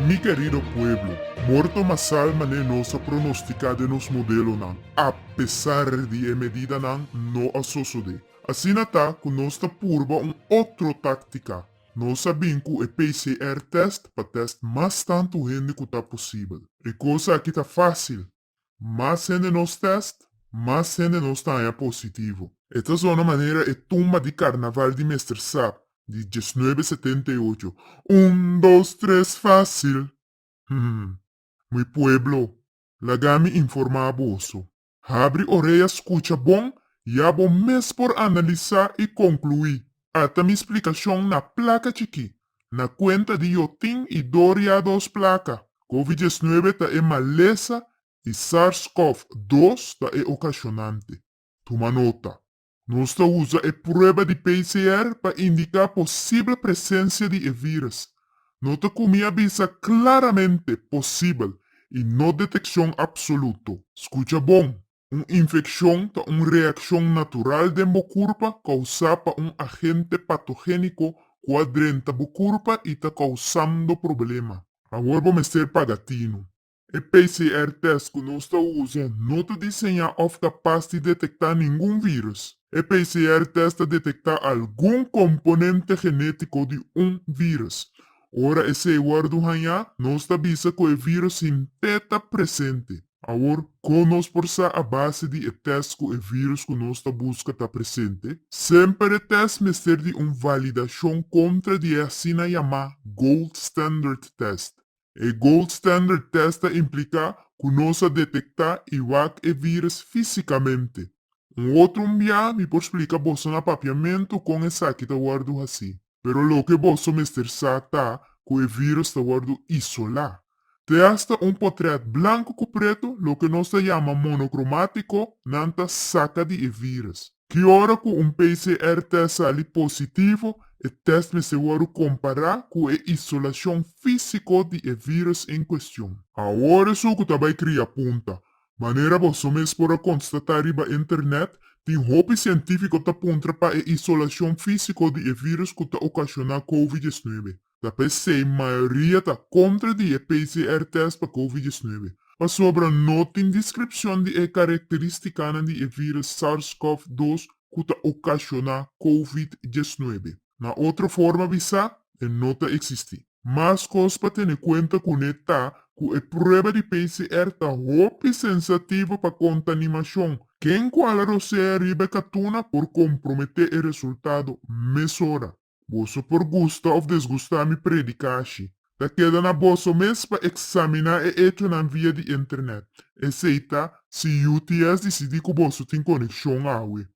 Mi kerido pueblo, morto mas sal manera nos a pronostica den nos modelonan, a pesar di e medidanan no a sosode. Asina ta cu nos ta purba un otro tactica, nos a bin cu e PCR test pa test mas tantu hende cu ta posibel. E cosa aki ta facil, Mas hende nos test, mas hende nos ta haña positivo. E ta zona manera e tumba di Carnaval di Mester Sa di diesnuebe setenta i ocho, Un, dos, tres, facil! Hm. Mi pueblo, laga mi informa boso. Habri orea scucha bon y abo mes por analisa y conclui. Ata mi splicacion na placa chiki, Na cuenta di yo tin y door ya dos placa. Covid diecinueve ta e malesa y Sars Cov dos ta e ocasionante. Tuma nota. Nos ta uza e prueba di PCR pa indica posible presencia di e virus. No ta cu mi a bisa claramente, posible y no deteccion absoluto. Scucha bon, Un infekshon ta un reakshon natural den bo kurpa kousá pa un agente patogéniko ku a drenta bo kurpa i ta kousando problema. Awor bo mester paga tinu. E PCR-tèst ku nos ta usa no ta diseñá òf ta pas di detektá ningun vírùs. E PCR-tèst ta detektá algun komponente genétiko di un vírùs. Ora esei wòrdu hañá, nos ta bisa ku e vírùs hint'é ta presente. Awor, kon nos por sa a base di e tèst ku e vírùs ku nos ta buska ta presente? Semper e tèst mester di un validashon kontra di e asina yamá gold standard tèst. E gold standard tèst ta impliká ku nos a detektá i wak e vírùs físikamente. Un otro mbiá mi por splika boso na papiamentu kon esaki ta wòrdu hasí. Pero loke boso mester sa ta ku e virus ta wòrdu isolá. Te asta un potrèt blanku ku pretu, loke nos ta yama monokromatiko, nan ta saka di e virus. Ki ora ku un PCR tèst sali positivo, e tèst mester wòrdu kompará ku e isolashon físiko di e virus en kuestion. Awor esun ku ta bai kria punta, Manera boso mes por a konstatá riba Internet, tin hopi sientífiko ta puntra pa e isolashon físiko di e vírùs ku ta okashoná Covid diesnuebe. Ta p'esei mayoria ta kontra di e PCR-tèst pa Covid diesnuebe, pasobra no tin deskripshon di e karakterístikanan di e vírùs SARS-CoV dos ku ta okashoná Covid diesnuebe. Na otro forma bisa, e no ta eksistí. Mas kos pa tene kuenta kuné ta ku e prueba di PCR ta hopi sensativo pa kontanimashon. Ken ku hala rosea riba e katuna por komprometé e resultado mesora. Boso por gusta òf desgustá mi predikashi. Ta keda na boso mes pa eksaminá e echonan via di Internet. Esei ta si UTS disidí ku boso tin konekshon awe.